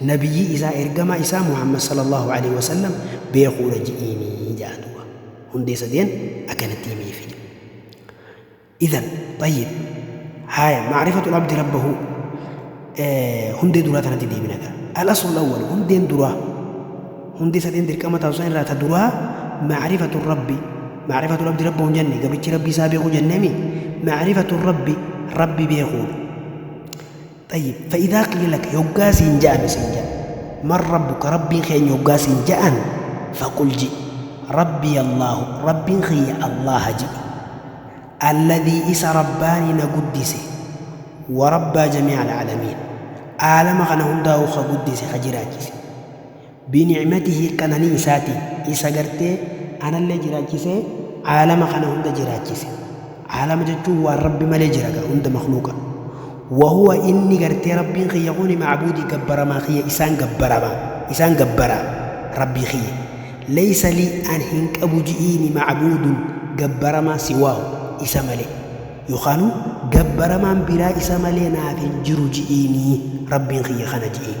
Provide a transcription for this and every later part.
Nabiyyii isaa ergamaa isaa Muhammad sallallaahu aleyhi wa sallam beekuudha je'iini ja'a duuba. Hundee sadeen akkanatti himeefi ja'a. Idhan, xayyib, haaya ma'rifatul abdi rabbahu hundee duraa tanatti deebina gaa. Al-aslul awwal hundeen duraa hundee sadeen dirqama taatu san irraa ta duraa ma'rifatul rabbi ma'rifatul abdi rabbahu hin jenne gabrichi rabbii isaa beekuu jenneemi ma'rifatul rabbi rabbi beekuudha. Xayyib, fa'idhaa qiila laka, yoggaa siin ja'ame siin ja'an, man rabbuka, Rabbiin kee eenyu yoggaa siin ja'an, faqul ji'i, Rabbiya Allaahu, Rabbiin kiyya Allaaha ji'i, alladhii isa rabbaanii na guddise, wa rabbaa jamii'al aalamiin, aalama kana hundaa'uu ka guddise, ka jiraachise. Binicmatihi qananii isaatiin, isa gartee anallee jiraachisee aalama kana hunda jiraachise. Aalama jechuun waan Rabbi malee jira gaa hunda makhluuqa. Wahuwa inni gartee Rabbiin kiyya kuni macbuudii gabbaramaa kiyya isaan gabbarama isaan gabbara Rabbii kiyya. Leysa lii an hin qabu ji'iini macbuudun gabbaramaa siwaahu isa malee. Yookaanu gabbaramaan biraa isa malee naaf hin jiru ji'iini Rabbiin kiyya kana ji'iin.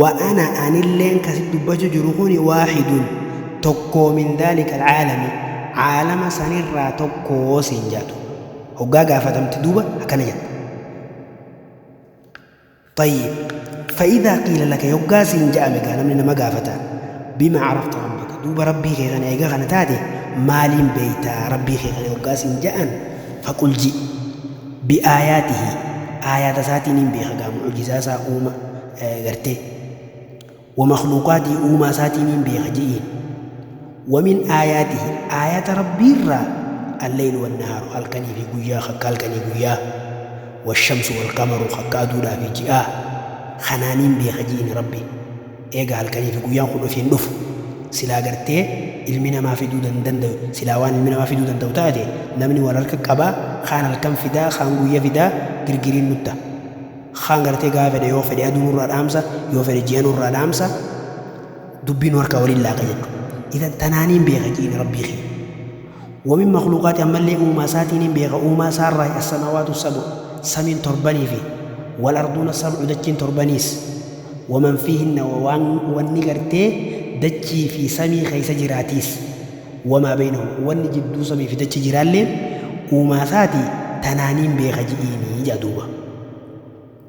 Wa ana anilleen ka sitti dubbachu jiru kuni waahidun tokkoo min dhaalika alcaalami caalama sanirraa tokkoo siin jaatu hoggaa gaafatamte duuba akkana jetta Xayyib fa idhaa qiila laka hoggaa siin ja'ame gaa namni nama gaafata bima carafta rabbaka duuba rabbii kee kana eega kana taate maaliin beeyta rabbii kee kana hoggaa siin ja'an fa qul ji Bi aayaatihi, aayaata isaatiin hin beeka gaa, mu'ujizaa isaa uuma, gartee. Wa makhluuqaatihi, uumaa isaatiin hin beeka je'iin. Wa min aayaatihi, aayaata Rabbii irraa alleylu wannahaaru, halkanii fi guyyaa, kakka halkanii guyyaa. Washamsu walqamaru, kakka aduudhaa fi ji'aa. Kanaan hin beeka je'iin Rabbi. Eega halkanii fi guyyaan kun ofiin dhufu silaa gartee ilmi namaa fiduu dan dandayu silaa waan ilmi namaa fiduu danda'u taate namni wal harka qabaa kaan halkan fidaa kaan guyya fidaa girgiriin nut ta kaan gartee gaafa fedhe yoo fedhe aduu nurraa dhaamsa yoo fedhe ji'a nurraa dhaamsa dubbii nu harkaa waliin laaqa jechu idan tanaaniin beeka ji'ini rabbii kiyya Wa min makhluuqaati ammallee uumaa isaatii nin beeka, uumaa isaa irraayi, as-samaawaatu as-sab'u, samiin torbanii fi wal-arduuna as-sab'u, dachiin torbaniis, wa man fiihinna wa waan wanni gartee dachii fi samii keessa jiraatiis, wa maa baynahu wanni jidduu samii fi dachii jiraalleen uumaa isaatii tanaa nin beeka ji'iini ja'a duuba.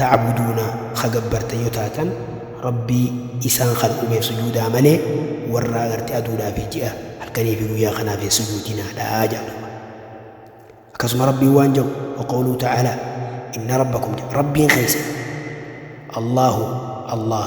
ta'buduuna ka gabbartan yoo taatan Rabbii isaan kan uumeef sujuudaa malee warraa gartee aduudhaa fi ji'a halkanii fi guyyaa kanaaf hin sujuudinaadhaa jedha duuba akkasuma Rabbiin waan jedhu waqawluu ta'aalaa inna rabbakum jedha Rabbiin keessan Allahu Allah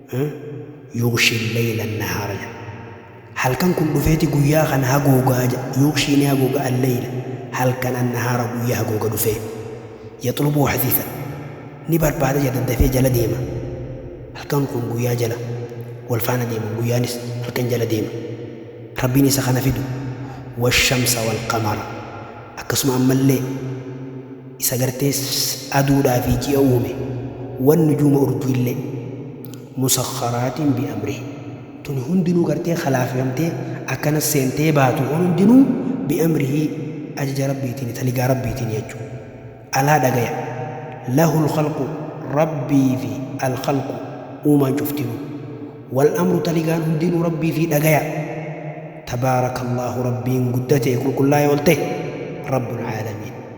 Yughshi al-layla an-nahaara jedha. Halkan kun dhufeeti guyyaa kana hagoogaa jedha. Yughshi ni hagooga al-layla, halkan, an-nahaara guyyaa hagooga dhufee. Yatlubuu hathiithan. Ni barbaada jedha daddafee jala deema. Halkan kun guyyaa jala wal faana deema, guyyaanis halkan jala deema. Rabbiin isa kana fidu. Wash-shamsa wal-qamara. Akkasuma ammallee. Isa gartee aduudhaa fi ji'a uume, wan-nujuuma urjiillee, musakharaatin bi'amrihi, tuni hundinuu gartee khalaafifamtee akkanas seentee baatu kun hundinuu bi'amrihi ajaja Rabbiitiini, taligaa Rabbiitiini jechu. Alaa dhagaya, lahul khalqu Rabbiifi al-khalqu, uumaan cuftinuu, wal-amru taligaan hundinuu Rabbiifi dhagaya. Tabaarakallaahu Rabbiin guddate qulqullaa'e oltahe, Rabbul aalamiin.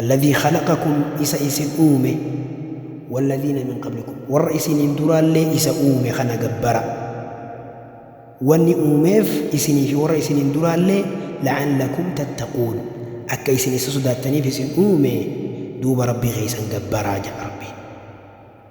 Alladhii khalaqakum isa isin uume walladhiina min qablikum warra isiniin duraallee isa uume kana gabbara wanni uumeef isinii fi warra isiniin duraallee la'allakum tattaquun akka isin isa sodaattaniif isin uume duuba Rabbii keessan gabbaraa jedha Rabbiin.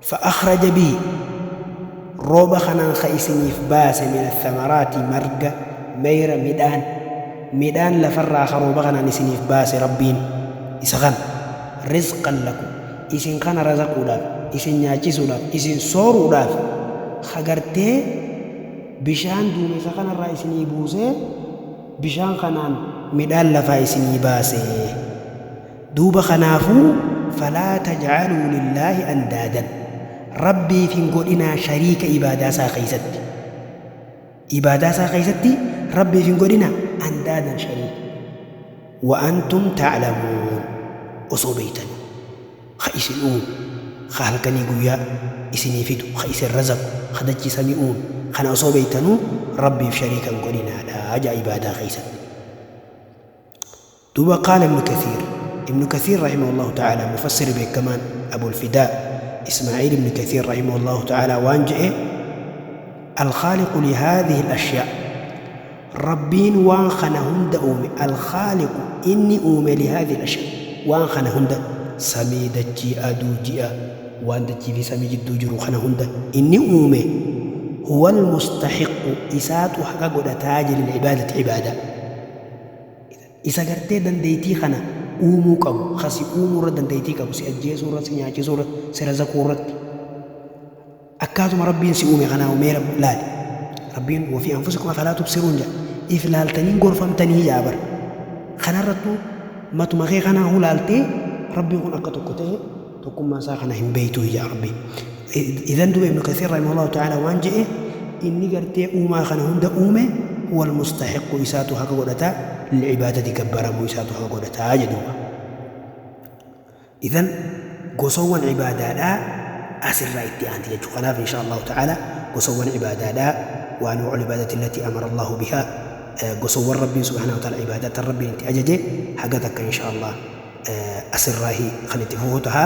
فأخرج به rooba kanaan ka isiniif baase min athamaraati marga, meyra, midhaan, midhaan lafarraa ka rooba kanaan isiniif baase Rabbiin isa kana rizqan lakum isin kana razaquudhaaf isin nyaachisuudhaaf isin sooruudhaaf ka gartee bishaan duumessa kanarraa isinii buusee bishaan kanaan midhaan lafaa isinii baase. Duuba kanaafuu falaa tajcaluu lillaahi andaadan, Rabbiif hin godhinaa shariika ibaadaa isaa keessatti, ibaadaa isaa keessatti Rabbiif hin godhinaa andaadan shariika, wa antum taclamuun osoo beeytanuu, ka isin uume, ka halkanii guyyaa isinii fidu, ka isin razaqu, ka dachii samii uume, kana osoo beeytanuu Rabbiif shariika hin godhinaadha ja'a ibaadaa keessatti. Duuba qaala ibnu kathiir, ibnu kathiir rahimahu Allaahu ta'aalaa mufassirri beekkamaan abul fidaa ismaa'iil ibnu kathiir rahimahu Allaahu ta'aalaa waan je'e, Al-khaaliqu li haadhihil ashyaa, Rabbiin waan kana hunda uume, Al-khaaliqu inni uume li haadhihil ashyaa, waan kana hunda, samii, dachii, aduu, ji'a, waan dachii fii samii jidduu jiru kana hunda inni uume, huwal mustahiqqu isaatu haqa godhataa je lil ibaadati ibaadaa. Isa gartee dandeeytii kana uumuu qabu, ka si uumuu irra dandeeytii qabu, si ajjeesuu irra, si nyaachisuu irra, si razaquu irratti. Akkaatuma Rabbiin si uume kanaahu mee Rabbi laali. Rabbiin wa fii anfusikum afalaa tubsiruun jedha. If laaltanii hin gorfamtanii jedha bar. Kanarrattuu matuma kee kanaahu laaltee Rabbiin kun akka tokko ta'e, tokkummaa isaa kana hin beeytuu yaa rabbii idan duba ibnu kasiir rahimahullahu ta'ala waan je'e inni gartee uumaa kana hunda uume huwa almustahiqqu isaatu haqa godhata licibaadati gabbaramuu isaatu haqa godhataa jedhuuba idan gosowwan cibaadaadhaa asirraa itti aanti jechuu kanaaf insha allahu ta'ala gosowwan cibaadaadhaa waan wacul cibaadati allati amara allahu bihaa gosowwan rabbiin subhaanahu wa ta'ala cibaadatan rabbiin itti ajaje haga takka insha allah asirraahi kan itti fufu taha.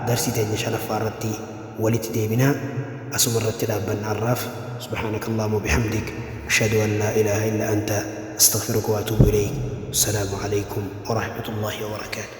Darsii teenya shanaffaa irratti walitti deebina. Asuma irratti dhaabbanna har'aaf. Subhaanaka Allaahumma wa bihamdik. Ashhadu an laa ilaaha illa anta. Astaghfiruka wa atuubu ilayk. Wassalaamu alaykum wa rahmatullaahi wa barakaatuh.